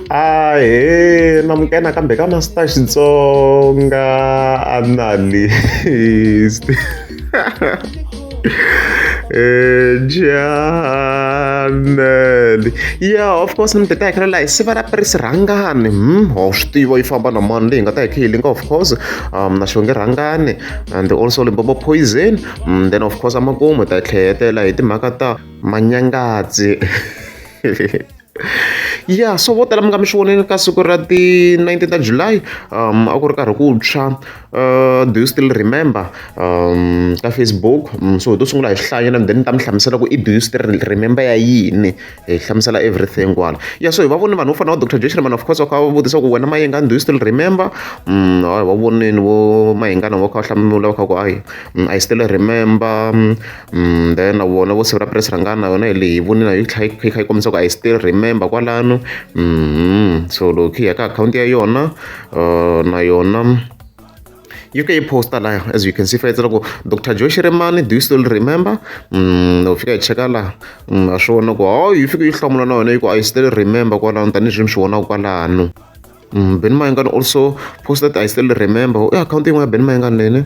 Ahee na muka nakambe ka Master Xitsonga analyst Janele ya of course ni mi ta hakela laha hi siva ra prisi rhangani hmm ho swi tiva yi famba na mani leyi nga ta hi kha yi linga of course um na xonge rhangani and also limbobo poison um, then of course amakumu hi ta tlhela hi tela hi timhaka ta manyangadzi ya so vo tala mi nga mi swi vonile ka siku ra ti-nineteen ta July a ku ri karhi ku tshwa do you still remember ka Facebook so hi to sungula hi hlaya and then ni ta mi hlamusela ku i do you still remember ya yini hi hlamusela everything kwala ya so hi va voni vanhu vo fana va Dr Joyce Rimana of course va kha va vutisa ku wena mayengani do you still remember va vonini vo mayengana vo kha va hlamula va kha ku hayi I still remember then na vona vo siku ra press rhangana na yona hi leyi hi vonile yi tlhela yi kha yi kombisa ku i still remember kwalano so loko hi ya ka akhawunti ya yona na yona yi ke yi posta laha as you can see fayitsela ku dr joe shiremani do you still remember no fika hi cheka laha a swi vona ku hawu yi fike yi hlamula na yona yi ku i still remember kwalano tanihileswi mi swi vonaka kwalano ben mayengani also posted i still remember i akhawunti yin'wana ya ben mayengani lene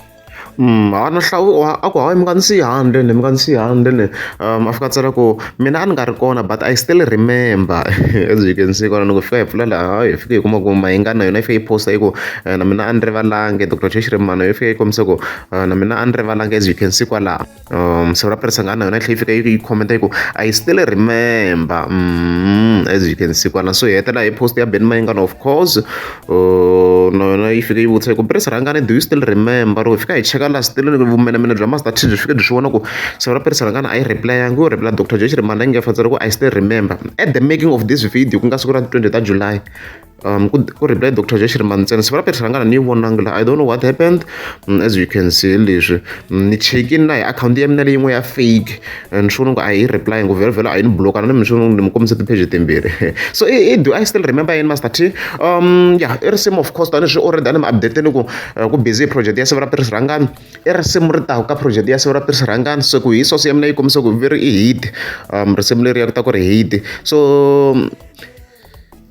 Mm, a no hlawula a ku hayi mi nga ni siyi handle ni mi nga ni siyi handle ni um a fika a tsala ku mina a ni nga ri kona but I still remember as you can see kwala loko fika hi pfula laha hi fike hi kuma ku mayingani na yona yi fike yi posta yi ku eh, na mina a ni rivalangi doctor Cheshi Rimano yi fike yi kombisa ku eh, na mina a ni rivalangi as you can see kwalaho Um, so raperesa nga na yona tlhe yi fika yi commenta yi ku i still remember mm, as you can see kwana so hi hetela hi post ya ben mayingana of course uh, na yona yi fika yi vutisa yi ku peresa rhangani do you still remember loko hi fika hi cheka la still vumenemene bya master t byi fike byi swi vona ku so raperesa rhangana a yi replayangi yo reply dr josh rimana yi nga fantsela ku i still remember at the making of this video ku nga siku ra 20 ta july Um, ku, ku reply Dr. Josh Rimantsena, sivela Petrus Rangana ni vonanga la, I don't know what happened, um, as you can see leswi, um, ni check-in na hi account ya mina leyin'we ya fake, and swi ngo a yi reply ngo vhela vhela a yi ni bloka, na mi swi ni mi kombisa ti-page timbirhi. So i, i, do I still remember yini Master T? Um, yeah, i risimu of course, tani swi already a ni mi updateni ku, uh, ku busy project ya sivela Petrus Rangana, i risimu ri taku ka project ya sivela Petrus Rangana, so ku hi source ya mina yi kombisa ku veri i hit, um, risimu leri ya ku ta ku ri hit, so, um,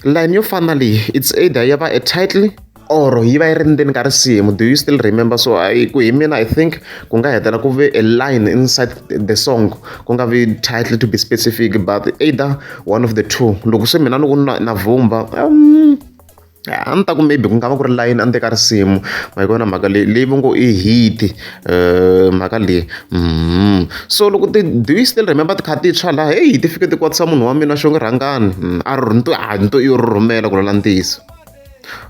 line yo fana na leyi it's either ya va a title or yi va yi ri ndzeni ka risimu do you still remember so I, ku hi mina i think ku nga hetela ku ve a line inside the song ku nga vi title to be specific but either one of the two loko se mina loko na vumba um, a ni ta ku maybe ku nga va ku ri layini a ni teka risimu ma yi vona mhaka leyi leyi va ngo i hit eh, mhaka leyi mm-hmm. so loko ti do you still remember ti kha ti tshwa laha heyi ti fike ti kwatisa munhu wa mina xo nge rhangani mm, a ri ni to a ni to i yo ri rhumela ku lola ntiyiso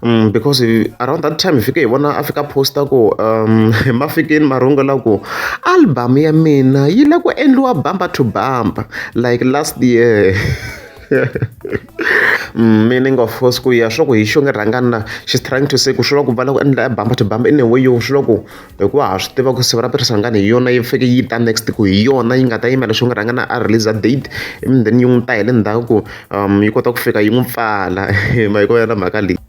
Mm, because around that time hi fike hi vona a fika posta ku um ma fikeni ma rungula ku album ya mina yi la ku endliwa bamba to bamba like last year Mm, meaning of course ku ya swa ku hi xo nge rhangani na she's trying to say ku swi la ku vala ku endla bamba to bamba in a way yo swi la ku hikuva ha swi tiva ku siva ra pirisangani hi yona yi fike yi ta next ku hi yona yi nga ta yimela xo nge rhangana a release a date and then yi n'wi ta hi le ndzhaku ku um yi kota ku fika yi n'wi pfala hi ma yi ko ya na mhaka leyi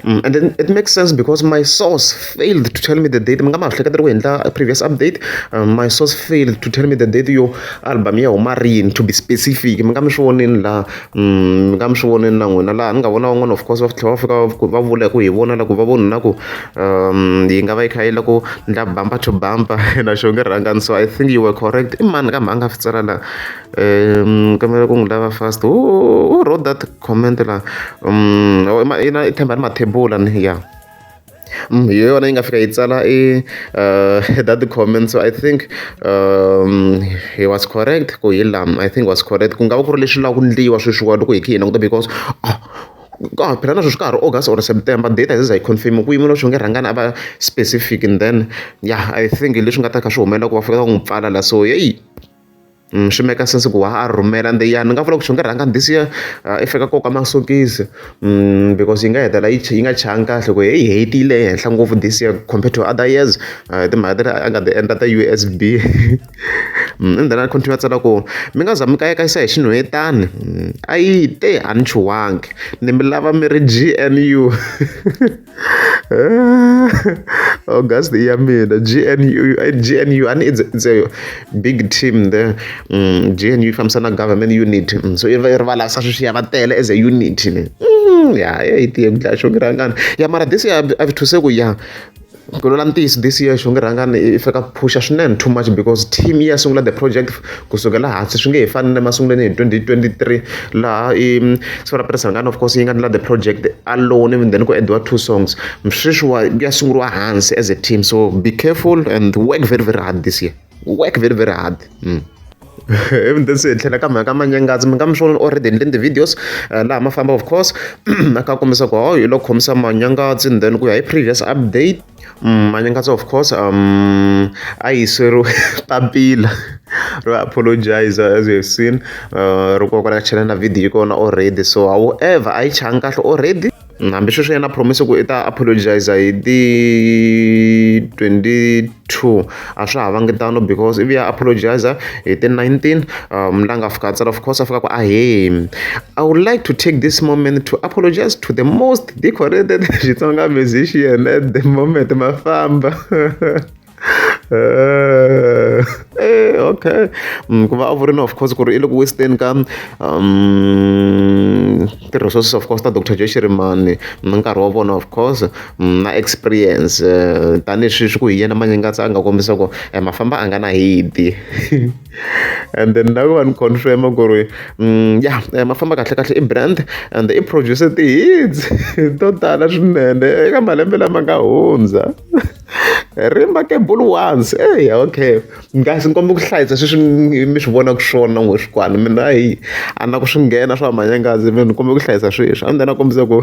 Mm, and then it makes sense because my source failed to tell me the date mi nga ma hleketela ku endla previous update um, my source failed to tell me the date yo album ya huma rini to be specific mi nga mi swi voneni la mm, mi nga mi swi voneni na n'wina laha ni nga vona van'wana of course va tlhela va fika va vula ku hi vona la ku va vona na ku um yi nga va yi kha yi la ku ndla bamba to bamba na xo nge rhangani so i think you were correct i mani kambe a nga fi tsala la um kamela ku n'wi lava fast who wrote that Comment la i na i tshemba ni mathebula ni ya hi yona yi nga fika yi tsala i that comment so I think he was correct ku hi la I think was correct ku nga va ku ri leswi lavaka ku endliwa sweswiwani loko hi kha hi languta because ka ha phela na sweswi ka ha ri August or September date a yi za yi confirm-iwa ku yimiwa leswi nge rhangani a va specific and then ya I think hi leswi nga ta kha swi humelela ku va fanele va n'wi pfala la so heyi. Mm, swi meka sense ku wa a rhumela ende ya ni nga vula ku swi nga rhanga this year uh, i fika koka masokisi mm, because yi nga hetela yi nga changi kahle ku hi hetile ehenhla ngopfu this year compared to other years uh, timhaka tele a nga ti endla ta u s b mm, and then a continue a tsala ku mi nga za mi kayakayisa hi xinhwetani mm, a yi te a ni chuwangi ni mi lava mi ri g n u oh guys ya mina gnu gnu ani it's, it's a big team there mm, gnu ifambisa na government unit mm, so rivala sa sweswi ya va tele as a unit ne mm, ya ya yi tiye mdlaya xongi rhangani ya mara this year a vithuse ku ya ku lola ntiyiso this year xongi rhangani i fika phusha swinene too much because team yi ya sungula the project Ku sukela hansi swi nge he fani na le masungulweni hi 2023 laha i siku ra president of course yi nga endla the project alone and then ku endliwa two songs sweswiwa ku ya sunguriwa hansi as a team so be careful and work very very hard this year work very very hard mm. even then se hi tlhela ka mhaka manyangazi mi nga mi swona already endleni ti-videos eh, laha ma famba of course a ka kombisa ku hawu hi lo khomisa manyangazi and then ku ya hi previous update Manyangadzo of course a hi sweriwe papila ro apologiser as we have seen ri koka ri ya chela na video ya kona already so however a yi changa kahle already hambileswi yena a promise-a ku i ta apologiser hi ti twenty two a swa ha vangi tano because ivi a apologiser hi ti nineteen la nga fika a tsala of course a fika a ku ahee I would like to take this moment to apologiser to the most. decorated xitsonga musician at the moment ma famba eh, eh okay mm, ku va a vurini of course ku ri i le ku western ka um ti-resources of course ta dr joe shirimani na nkarhi wa vona of course mm, na experience eh, tanihi swi swi ku hi yena manyengatsa a nga kombisa ku eh, mafamba a nga na hidi and then na va ni confirm-a ku ri ya ma famba kahle kahle i brand and i produce ti-hits to tala swinene eka malembe lama nga hundza remarkable ones eya okay kasi ni kombela ku hlayisa sweswi mi swi vonaka swona n'we swikwana mina hi a na ku swi nghena swa manyangazi mi ni kombela ku hlayisa sweswi a ni ta na kombisa ku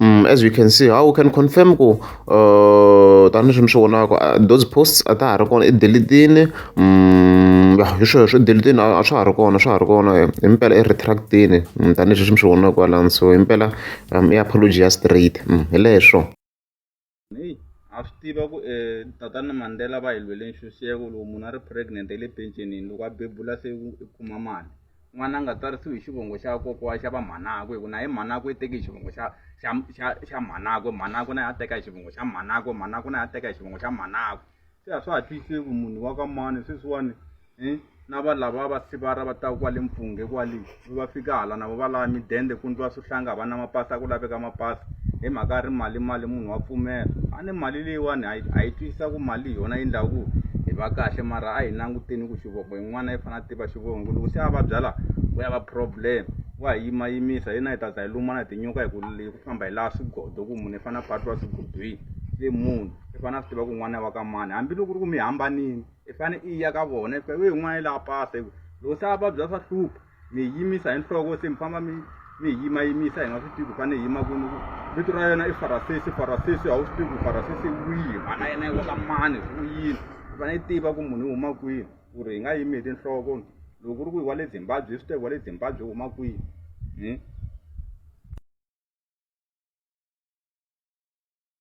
Mm, as we can see how we can confirm ku uh, tanihi swi mi swi vonaka uh, those posts a ta ha ri kona i delitini mm, hi swona swi delitini a swa ha ri kona swa ha ri kona himpela i retractini mm, tanihi swi mi swi vonaka kwalani so himpela um, i apology ya straight hi leswo heyi ha swi tiva ku um tatana mandela va hi lwele nxuxeko loko munhu a ri pregnant hi le pencenini loko a bebula se u kuma mali n'wana a nga tsarisiwi hi xivongo xa kokowa xa va mhanakwe hi ku na hi mhanakwe i teke hi xivongo xa xa xa xa mhanakwe mhanakwe na yi a teka hi xivongo xa mhanakwe mhanakwe na yi a teka hi xivongo xa mhanakwe se a swa ha twisise ku munhu wa ka mani sweswiwani um na va lava va sivara va taka kwale mpfunghe kwale va fika hala navo va lava midende ku ndliwa swihlanga va na mapasi a ku laveka mapasi hi mhaka ya ri mali mali munhu wa pfumela a ni mali leyiwani a yi twisisa ku mali hi yona yi ndlaku ku hi va kahle mara a hi languteni ku xivoko yin'wana yi fanele a tiva xivoko ku loko se a vabya laha ku ya va problem wa hi yimayimisa hi na hi ta za hi lumana hi tinyuka hi ku hi ku famba hi laha swigodo ku munhu i fanele a patiwa swigodweni se munhu i fane a swi tiva ku n'wana wa ka mani hambiloko ri ku mi hambanini i fane i ya ka vona i fika we n'wana i laha pasa hi ku loko se a vabya swa hlupha mi yimisa hi nhloko se mi famba mi mi hi yimayimisa hi nga swi tivi ku fane hi yima kwini vito ra yena i farasesi farasesi a wu swi tivi ku farasesi wihi vana yena yi wa ka mani u yini i fane i tiva ku munhu i huma kwini ku ri hi nga yimi hi tinhloko loko ku ri ku hi wa le zimbabwe swi tevi wa le zimbabwe huma kwini hmm?